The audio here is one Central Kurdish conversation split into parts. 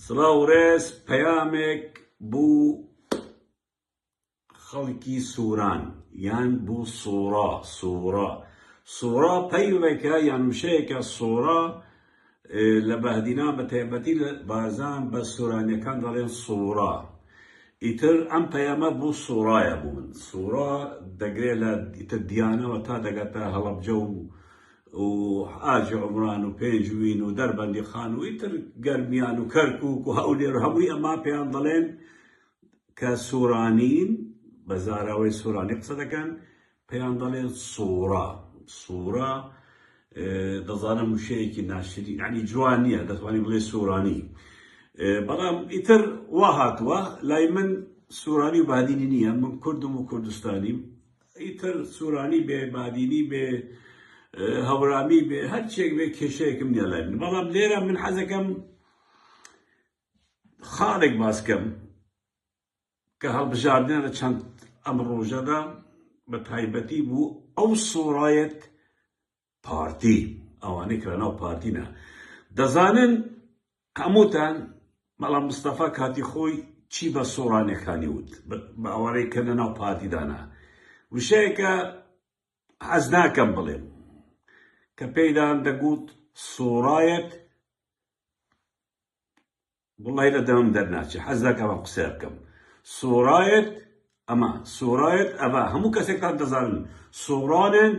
سڵاو و ڕێز پەیامێک بوو خەڵکی سوران یان بوو سوڕا سوڕا سوڕا پەیڕێکە یان وشەیەکە سوڕا لە بەهدینا بە تایبەتی لە بارزان بە سورانیەکان دەڵێن سوڕا ئیتر ئەم پەیامە بوو سوڕایە بوو من سوڕا دەگرێت لە ئیتر دیانەوە تا دەگاتە هەڵەبجە و و حاجی عومران و پێنجوین و دەربەندی خان و ئیتر گەرمیان و کەرکوک و هەولێر و هەمووی ئەما پێیان دەڵێن کە سورانین بە زاراوەی سورانی قسە دەکەن پێیان دەڵێن سورا سورا دەزانم وشەیەکی ناشری ینی جوان نییە دەتوانانی بڵێ سورانی بەڵام ئیتر وا هاتووە لای من سورانی و بادینی نییە من کوردم و کوردستانیم ئیتر سورانی بێ بادینی بێ هەورامی بێ هەرچێک بێ کێشەیەکم نیە لای من بەڵام لێرە من حەزەکەم خاڵێک باسکەم کە هەڵبژاردنە لە چەند ئەم ڕۆژەدا بە تایبەتی بوو ئەو سۆڕایەت پارتی ئەوانەی کە لەناو پارتینە دەزانن هەمووتان بەڵام مستەفا کاتی خۆی چی بە سۆرانەکانی وت بە ئەوانەی کە لەناو پارتیدانە وشەیەکە حەز ناکەم بڵێم کە پێیدان دەگوت سۆرایەت وەڵاهی لە دەمم دەرناچێ حەز ناکەم ئەم قسەیە بکەم سۆرایەت ئەمە سۆرایەت ئەڤە هەموو کەسێکتان دەزانن سۆرانێن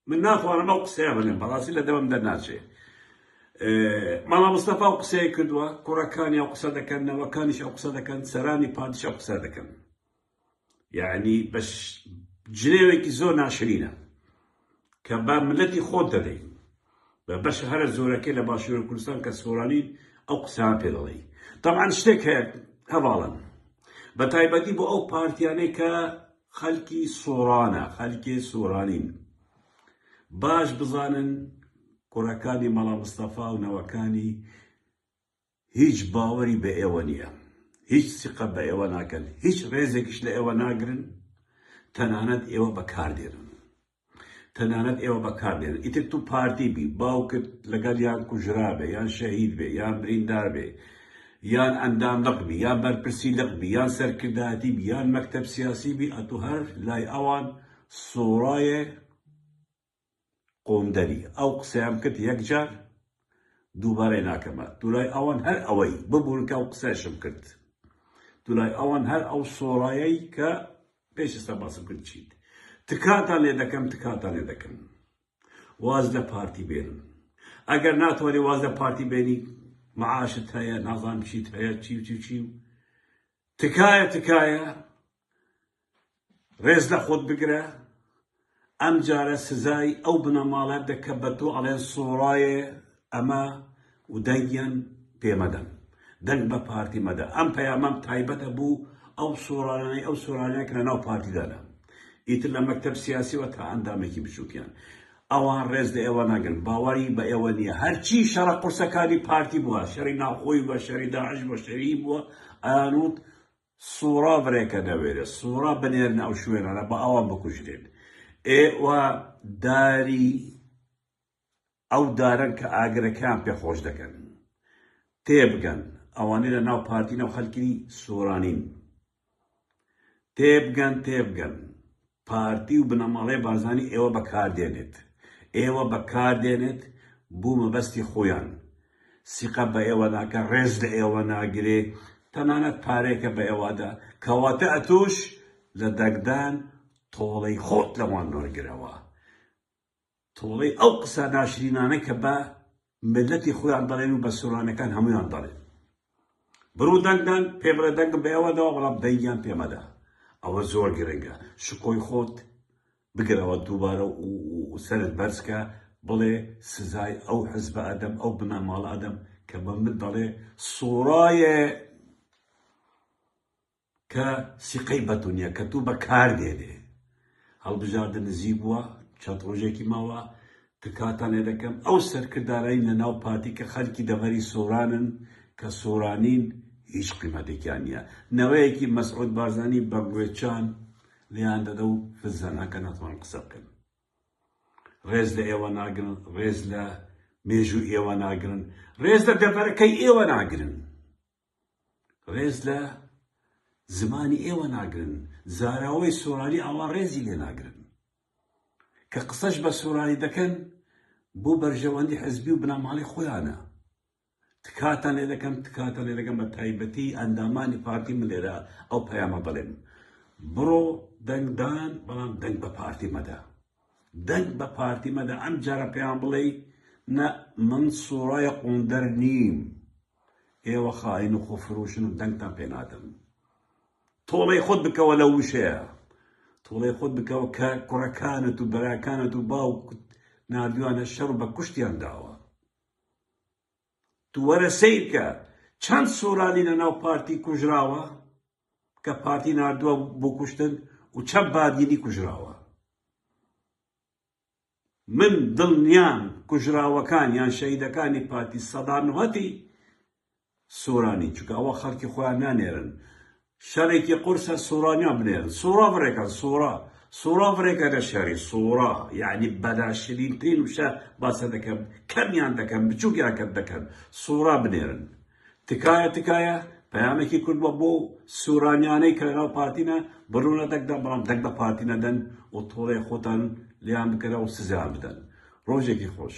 من ناتوانم ئەو قسەیە بڵێم بەڕاستی لە دەمم دەرناچێ ماڵا مستەفا و قسەیە کردووە کوڕەکانی ئەو قسە دەکەن نەوەکانیش ئەو قسە دەکەن سەرانی پادشا قسە دەکەن یەعنی بە جنێوێکی زۆر ناشرینە کە بە ملەتی خۆت دەدەی بە بەشە هەرە زۆرەکەی لە باشوور کوردستان کە سۆرانی ئەو قسان پێ دەڵێی تەمان شتێک هەیە هەواڵن بە تایبەتی بۆ ئەو پارتیانەی کە خەلکی سۆرانە خەلکی سۆرانین باش بزانن کوڕەکانی مەڵا مستەفا و نەوەکانی هیچ باوەری بە ئێوە نییە، هیچ سیقە بە ئێوە ناکەن، هیچ ڕێزێکیش لە ئێوە ناگرن، تەنانەت ئێوە بەکاردێنن. تەنانەت ئێوە بەکاردێنن. ئیتر تو پارتی بی، باوکت لەگەڵ یان کوژرابێ، یان شەهید بێ، یان بریندار بێ، یان ئەندام لق بی، یان بەرپرسی لق بی، یان سەرکردایەتی بی، یان مەکتەب سیاسی بی، ئەتو هەر لای ئەوان سۆرایە، قوندەری ئەو قسەیەم کرد یەک جار دووبارەی ناکەمە دولای ئەوان هەر ئەوەی ببورن کە ئەو قسەیشم کرد دولای ئەوان هەر ئەو سۆرایەی کە پێش ئێستا باسم کرد چیت تکاتان لێ دەکەم تکاتان لێ دەکەم واز لە پارتی بێنم ئەگەر ناتوانێ واز لە پارتی بێنی معاشت هەیە نازانم چیت هەیە چی و چی و چی و تکایە تکایە ڕێز لە خۆت بگرە ئەم جارە سزای ئەو بنەماڵە دە کە بە تۆ ئەڵێن سۆڕایێ ئەمە و دەنگیان پێ مەدەن دەنگ بە پارتی مەدە ئەم پەیامەم تایبەتە بوو ئەو سۆرانەی ئەو سۆرانەیە کە لەناو پارتیدانە ئیتر لە مەکتەب سیاسیەوە تا ئەندامێکی بچووکیان ئەوان ڕێز لە ئێوە ناگرن باوەڕی بە ئێوە نییە هەرچی شەڕە قورسەکانی پارتی بووە شەری ناوخۆی بە شەری داعش بە شەری بووە ئەیانوت سوڕا برێکە نەوێرێ سوڕا بنێرنە ئەو شوێنانە با ئەوان بکوژرێن ئێوە داری ئەو دارن کە ئاگرەکان پێ خۆش دەکەن تێبگەن ئەوانەی لە ناو پارتینە و خەلکی سۆرانین تێبگەن تێبگەن پارتی و بنەماڵەی بارزانی ئێوە بەکار دێنێت ئێوە بەکار دێنێت بو مەبەستی خویان سیقە بە ئێوە ناکە ڕێز لە ئێوە ناگرێ تەنانەت پارەیەکە بە ئێوەدا کەواتە ئەتوش لە دەگدان تۆڵەی خۆت لەوان وەرگرەوە. تۆڵەی ئەو قسە ناشرینانە کە بە میللەتی خۆیان دەڵێن و بە سۆرانیەکان هەموویان دەڵێن بڕو دەنگ دەن پێ بڵێ دەنگم بە ئێوە داوە بەڵام دەنگیان پێ مەدە ئەوە زۆر گرنگە شکۆی خۆت بگرەوە دووبارە و سەرت بەرزکە بڵێ سزای ئەو حزبە ئەدەم ئەو بنەماڵە ئەدەم کە بە من دەڵێ سۆرایە کە سیقەی بەتونیە کە تو بە کار دێنێ هەڵبژاردە نزیک بوە چەند ڕۆژێکی ماوە تکاتان لێ دەکەم ئەو سەرکردانەی لە ناو پارتی کە خەلکی دەڤەری سۆرانن کە سۆرانین هیچ قیمەتێکیان نیە نەوەیەکی مەسعود بارزانی بە گوێچان لێیان دەدە و فزەنەکە ناتوان قسە بکەن ڕێز لە ئێوە ناگرن ڕێز لە مێژوو ئێوە ناگرن ڕێز لە دەڤەرەکەی ئێوە ناگرن ڕێز لە زمانی ئێوە ناگرن زاراوەی سۆرانی ئاوا ڕێزی لێ ناگرن کە قسەش بە سۆرانی دەکەن بۆ بەرژەوەندی حزبی و بنەماڵی خۆیانە تکاتان لێ دەکەم تکاتان لێ دەکەم بە تایبەتی ئەندامانی پارتی من لێرە ئەو پەیامە بڵێم بڕۆ دەنگدان بەڵام دەنگ بە پارتی مەدە دەنگ بە پارتی مەدە ئەم جارە پێیان بڵێی نە من سورای قوندەر نیم ئێوە خائین و خۆفروشن و دەنگتان پێ نادەم تۆڵەی خۆت بکەوە لە وشەیە تۆڵەی خۆت بکەوە کە کوڕەکانت و بەراکانت و باوکت نردویانە شەڕ بە کوشتیان داوە تو وەرە سەیرکە چەند سورالی لە ناو پارتی کوژراوە کە پارتی ناردوە بو کوشتن و چەند بادینی کوژراوە من دلنیام کوژراوەکان یان شەهیدەکانی پارتی سەدا نهتی سورانی چونکە ئەوە خەلکی خۆیان نانێرن شەرێکی قورسە سورانیا بنێرن سورا بڕێکەن سورا سورا بڕێکە نە شەری سورا یەعنی بەناشرین ترین وشە باسە دەکەم کەمیان دەکەم بچوکیان کەت دەکەن سورا بنێرن تکایە تکایە پەیامێکی کورد بە بۆ سورانیانەی کە لەناو پارتینە بڕونە دەکدەن بەڵام دەک بە پارتی نەدەن و تۆڵێ خۆتان لیان بکەرەوە سزیان بدەن ڕۆژێکی خۆش